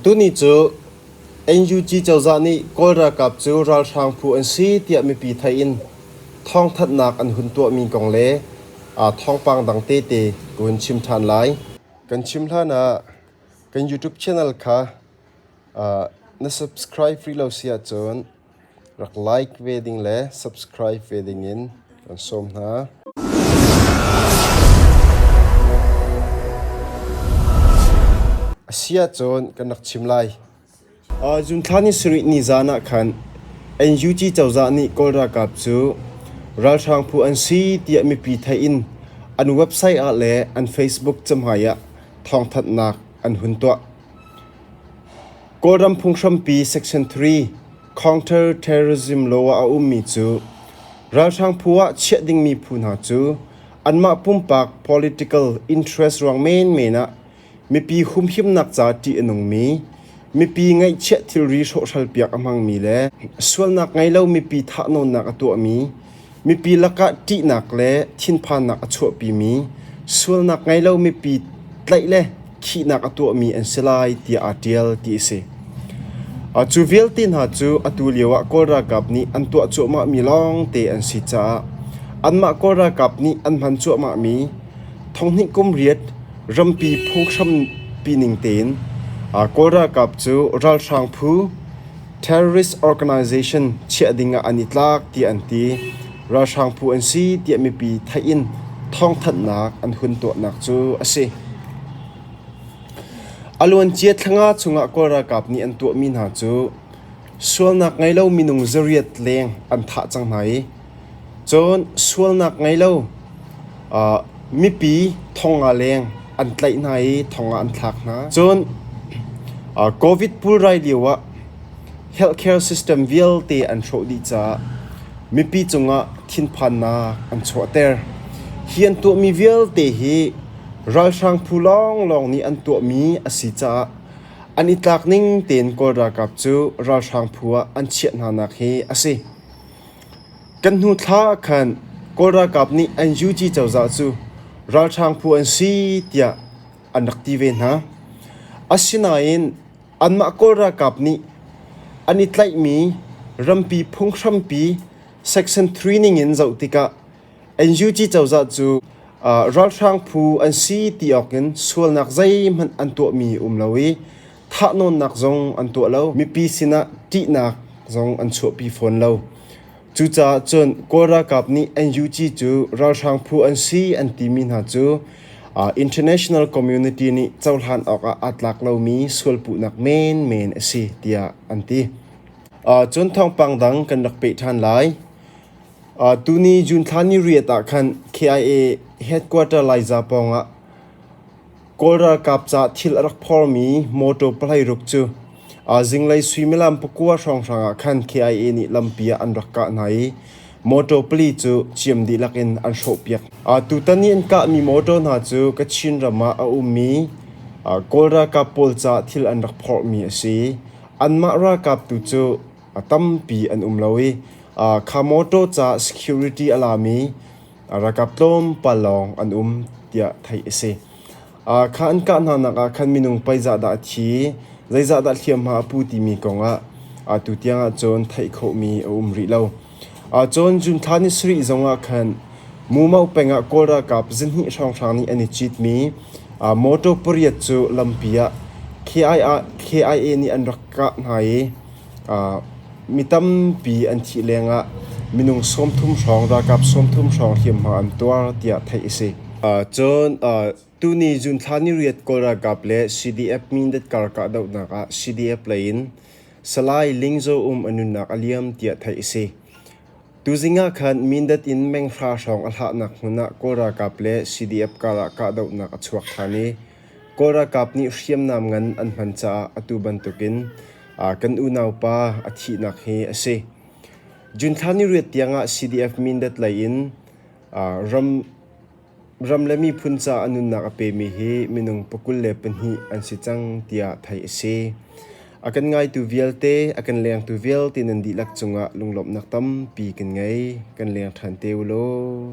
Tuni cu NUG cozah nih Kawl ralkap cu ralhrang phu an si tiah mipi theih in thawngthanhnak an hun tuahmi kong le thawngpang dang tete ka hun chim ṭhan lai. Kan chim hlan ah kan YouTube channel kha na subscribe rih lo si ahcun rak like ve ding le subscribe ve dingin kan sawm hna. Asia cun kan rak chim lai. Zunthla ni sarih ni zan ah khan NUG cozah nih Kawl ralkap cu ralhrang phu an si tiah mipi theih in an website ah le an Facebook cahmai ah thawngthanhnak an hun tuah. Kawlram phunghrampi Section 3 Counter Terrorism Law ah a ummi cu ralhrang phu ah chiah dingmi phu hna cu anmah pumpak political interest ruang menmen ah mipi humhimnak ca ṭih a nungmi, mipi ngaihchiah thilri hrawhhral piak a hmangmi le sualnak ngei lo mipi thahnawnnak a tuahmi Mipi lakah ṭihnak le thinphannak a chuahpimi, sualnak ngei lo mipi tlaih le khihnak a tuahmi an si lai tiah aa ṭial ti a si. Cu vialte hna cu atu lioah Kawl ralkap nih an tuah cuahmahmi lawngte an si caah anmah Kawl ralkap nih an hman cuahmahmi thonghnih kum riat rampi phunghrampi ning tein Kawl ralkap cu ralhrang phu, Terrorist organization chiah ding ah an i tlak tiah an ti. Ralhrang phu an si tiah mipi theih in thawngthanhnak an hun tuahnak cu a si. A luancia thlanga chungah Kawl ralkap nih an tuahmi hna cu sualnak ngei lo minung zariat leng an thah cang hna i Cun sualnak ngei lo mipi thong ah leng an tlaih hna i thong ah an thlak hna. Cun Covid pulrai lioah healthcare system vialte an hrawh dih caah mipi cungah thinphannak an chuahter. Hi an tuahmi vialte hi ralhrang phu lawnglawng nih an tuahmi a si caah an i tlak ning tein Kawl ralkap cu ralhrang phu ah an chiah hnanak hi a si. Kan hnu thla ah khan Kawl ralkap nih an UG cozah cu ralhrang phu an si tiah an rak ti ve hna. Asinain anmah Kawl ralkap nih an i tlaihmi rampi phunghrampi Section 3 ningin zoh tikah NUG cozah cu ralhrang phu an si ti awkin sualnak zeihmanh an tuahmi a um lo i thahnawnnak zong an tuah lo. Mipi sinah ṭihnak zong an chuahpi fawn lo. Cucaah cun Kawl ralkap nih NUG cu ralhrang phu an si an timi hna cu uh, International Community nih cohlan awkah aa tlak lomi sualpuhnak menmen a si tiah an ti. Uh, cun thawngpang dang kan rak peh ṭhan lai. Uh, tuni June thla ni riat ah khan KIA headquarter Laiza pawngah Kawl ralkap caah thil a rak phormi mawṭaw pahlei ruk cu zinglei suimilam pakua hrawnghrang ah khan KIA nih lampi ah an rak kah hna i mawṭaw pali cu ciam dihlak in an hrawhpiak. Tutan i an kahmi mawṭaw hna cu Kachin ram ah a ummi Kawl ralkap pawl caah thil an rak phormi a si. Anmah ralkap tu cu tampi an um lo i kha mawṭaw caah security a lami A ralkap tlawmpal lawng an um tiah theih a si. Ah kha an kah hnanak ah khan minung paizah dah a thi, zeizahdah hliamhma a pu timi kongah ah tutiang ahcun theih khawhmi a um rih lo. Ah cun June thla ni sarih zongah khan Mumau pengah Kawl ralkap zinhnih hrawnghrang nih an i citmi ah motor pariat cu lampi ah KIA nih an rak kah hna i Mi tampi an thih lengah minung sawmthum hrawng, ralkap sawmthum hrawng hliamhma an tuar tiah theih a si. Cun tuni June thla ni riat Kawl ralkap le CDF Mindat kar kahdohnak ah CDF lei in Salai Ling Zo Um a nunnak a liam tiah theih a si. Tuzing ah khan Mindat in meng hra hrawng a hlahnak hmun ah Kawl ralkap le CDF karah kahdohnak a chuak ṭhan i Kawl ralkap nih hriamnam ngan an hman caah atu bantukin kan unaupa a thihnak hi a si. June thla ni riat tiangah CDF Mindat lei in ram, ram le miphun caah nunnak a pemi hi minung pakul le pahnih an si cang tiah theih a si. A kan ngaitu vialte, a kan lengtu vialte nan dihlak cungah lunglawmhnak tampi kan ngei. Kan leng ṭhan te u law.